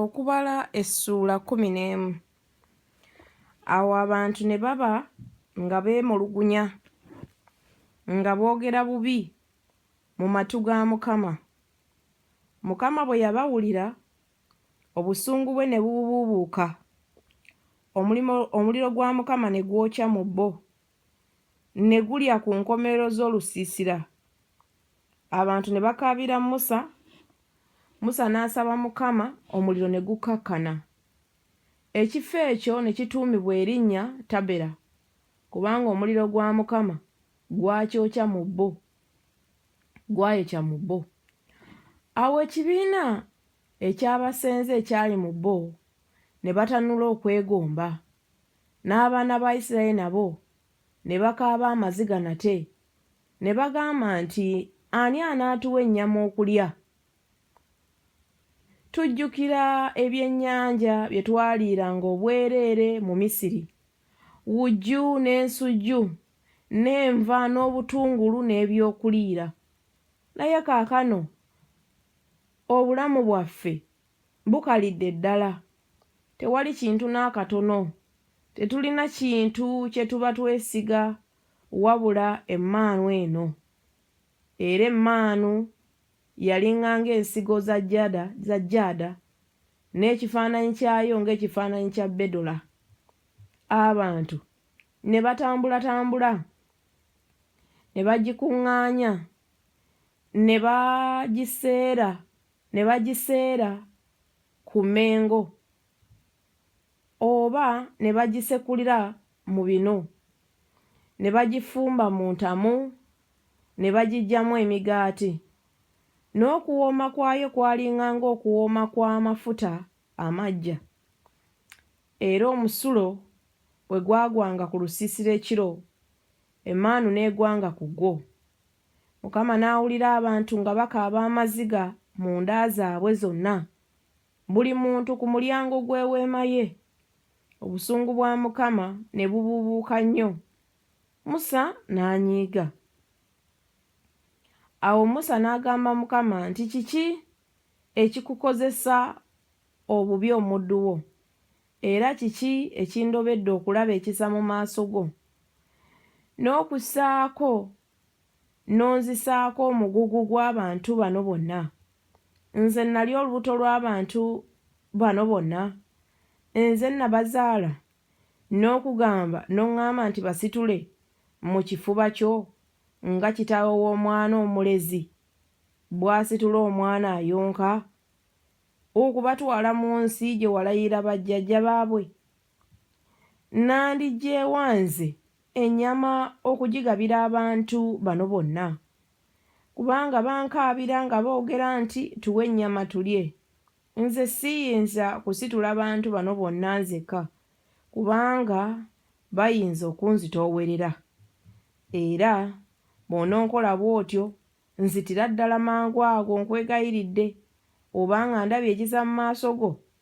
okubala essuula kkumi n'emu awo abantu ne baba nga beemulugunya nga boogera bubi mu matu ga mukama mukama bwe yabawulira obusungu bwe ne bububuubuuka omuliro gwa mukama ne gwokya mu bo ne gulya ku nkomerero z'olusiisira abantu ne bakaabira musa musa n'asaba mukama omuliro ne gukkakkana ekifo ekyo ne kituumibwa erinnya tabera kubanga omuliro gwa mukama gwakyokya mu bo gwayokya mu bo awo ekibiina ekyabasenze ekyali mu bo ne batanula okwegomba N'abaana ba Isiraeri nabo ne bakaaba amaziga nate, ne bagamba nti, Ani anaatuwa ennyama okulya? Tujjukira ebyennyanja bye twaliiranga obwereere mu Misiri, wujju n'ensujju, n'enva n'obutungulu n'ebyokuliira. Naye kaakano obulamu bwaffe bukalidde ddala, tewali kintu n'akatono, tetulina kintu kye tuba twesiga wabula emmaanu eno. Era emmaanu yalinga ng'ensigo za jada, za jada, n'ekifaananyi kyayo ng'ekifaananyi kya bedola. Abantu ne batambulatambula ne bagikuŋŋaanya ne bagiseera ne bagiseera ku Mmengo oba ne bagisekulira mu binu ne bagifumba mu ntamu ne bagiggyamu emigaati. N'okuwooma kwayo kwalinga ng'okuwooma kw'amafuta amaggya. Era omusulo bwe gwagwanga ku lusiisira ekiro, emmaanu n'egwanga ku gwo. Mukama n'awulira abantu nga bakaaba amaziga mu nda zaabwe zonna, buli muntu ku mulyango gw'eweema ye. Obusungu bwa Mukama ne bubuubuuka nnyo, Musa n'anyiiga. Awo Musa n'agamba Mukama nti, Kiki ekikukozesa obubi omuddu wo, era kiki ekindobedde okulaba ekisa mu maaso go, n'okussaako n'onzisaako omugugu gw'abantu bano bonna. Nze nnali olubuto lw'abantu bano bonna? Nze nnabazaala, n'okugamba, n'oŋŋamba nti basitule mu kifuba kyo, nga kitaawe w'omwana omulezi bw'asitula omwana ayonka, okubatwala mu nsi gye walayirira bajjajja baabwe Nandigyewa nze ennyama okugigabira abantu bano bonna? Kubanga bankaabira nga boogera nti tuwe ennyama tulye. Nze siyinza kusitula bantu bano bonna nzekka kubanga bayinza okunzitoowerera. Era bw'ononkola bw'otyo nzitira ddala mangu ago nkwegayiridde oba nga ndabye ekiza mu maaso go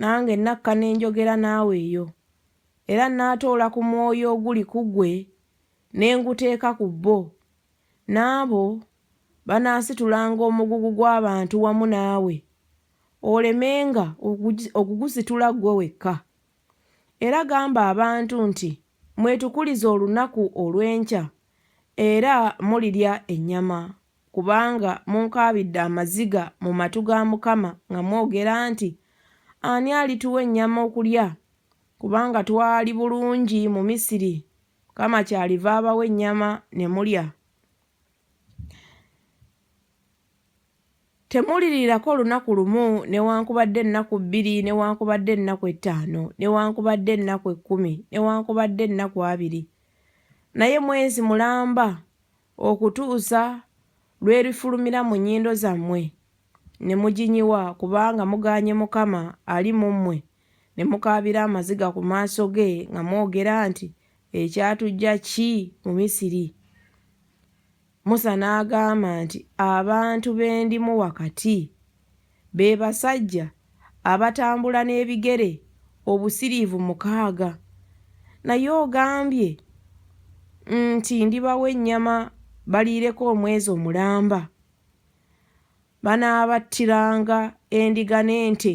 Nange nakka ne njogera naawe eyo, era nnaatoola ku mwoyo oguli ku ggwe ne nguteeka ku bo, n'abo banaasitulanga omugugu gw'abantu wamu naawe, olemenga okugusitula ggwe wekka. Era gamba abantu nti, Mwetukulize olunaku olw'enkya, era mulirya ennyama. Kubanga munkaabidde amaziga mu matu ga Mukama nga mwogera nti, Ani alituwa ennyama okulya? Kubanga twali bulungi mu Misiri. Mukama kyaliva abawa ennyama ne mulya. Temuwulirirako lunaku lumu, newankubadde ennaku bbiri, newankubadde ennaku ettaano, newankubadde ennaku ekkumi, newankubadde ennaku abiri. Naye mwezi mulamba, okutuusa lw'erifulumira mu nnyindo zammwe ne muginyiwa, kubanga mugaanye Mukama ali mu mmwe, ne mukaabira amaziga ku maaso ge nga mwogera nti, Ekyatuggya ki mu Misiri? Musa n'agamba nti, Abantu be ndimu wakati. be basajja abatambula n'ebigere obusiriivu mukaaga naye ogambye nti ndibawa ennyama baliireko omwezi omulamba, banaabattiranga endiga n'ente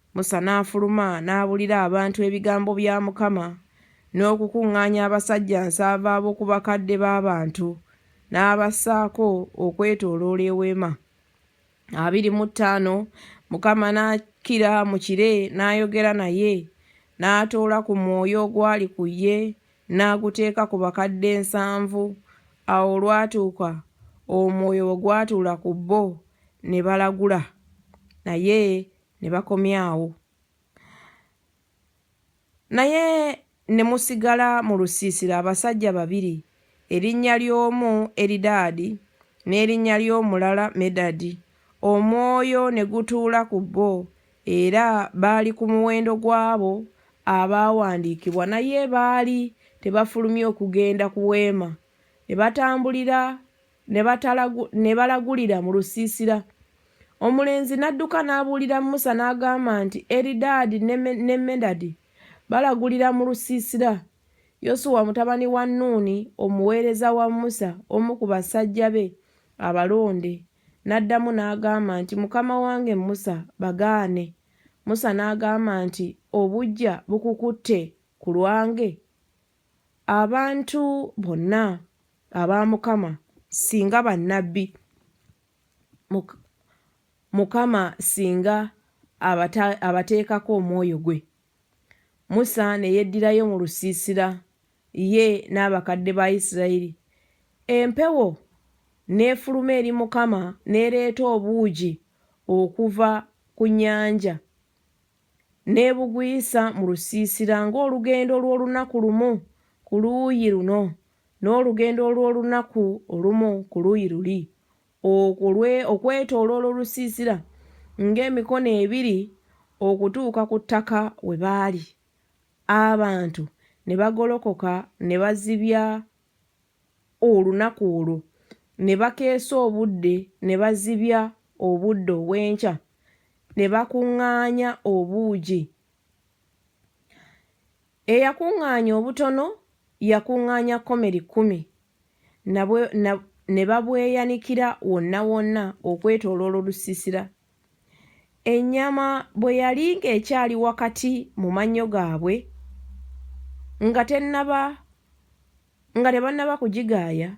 Musa n'afuluma n'abuulira abantu ebigambo bya Mukama, n'okukuŋŋaanya abasajja nsanvu ab'oku bakadde b'abantu, n'abassaako okwetooloola eweema. Abiri mu ttaano Mukama n'akkira mu kire n'ayogera naye, n'atoola ku mwoyo ogwali ku ye n'aguteeka ku bakadde nsanvu. Awo olwatuuka omwoyo bwe gwatuula ku bo, ne balagula, naye ne bakomyawo naye ne musigala mu lusiisira abasajja babiri erinnya ly'omu Eridaadi n'erinnya ly'omulala Medadi, omwoyo ne gutuula ku bo, era baali ku muwendo gw'abo abaawandiikibwa, naye baali tebafulumye okugenda ku weema, ne batambulira ne balagulira mu lusiisira. Omulenzi n'adduka n'abuulira Musa n'agamba nti, Eridaadi ne Medadi balagulira mu lusiisira. Yosuwa mutabani wa Nuuni, omuweereza wa Musa, omu ku basajja be abalonde, n'addamu n'agamba nti, Mukama wange Musa, bagaane. Musa n'agamba nti, Obuggya bukukutte ku lwange? Abantu bonna aba Mukama singa bannabbi, Mukama singa abateekako omwoyo gwe. Musa ne yeddirayo mu lusiisira, ye n'abakadde ba Isirayiri. Empewo n'efuluma eri Mukama n'ereeta obuugi okuva ku nnyanja. N'ebugwisa mu lusiisira ng'olugendo lw'olunaku lumu ku luuyi luno, n'olugendo olw'olunaku olumu ku luuyi luli, okwo lwe, okwetooloola olusiisira, ng'emikono ebiri okutuuka ku ttaka we baali. Abantu ne bagolokoka ne bazibya olunaku olwo ne bakeesa obudde ne bazibya obudde obw'enkya ne bakuŋŋaanya obuugi. Eyakuŋŋaanya obutono yakuŋŋaanya kkomeri kkumi, na bwe, na, ne babweyanikira wonna wonna okwetooloola olusiisira. Ennyama bwe yali ng'ekyali wakati mu mannyo gaabwe, nga tennaba Nga tebannaba kugigaaya,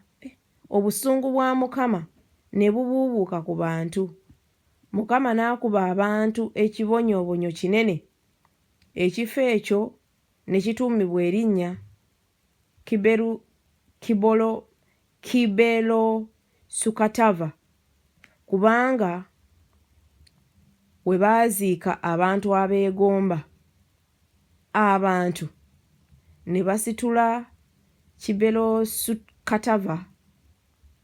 obusungu bwa Mukama ne bubuubuuka ku bantu. Mukama n'akuba abantu ekibonyoobonyo kinene, ekifo ekyo ne kituumibwa erinnya Kiberu, Kibolo, Kibelosukatava, kubanga we baaziika abantu abeegomba abantu ne basitula Kiberosu-Katava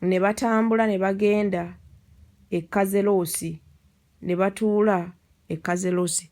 ne batambula ne bagenda e Kazerosi ne batuula e Kazerosi.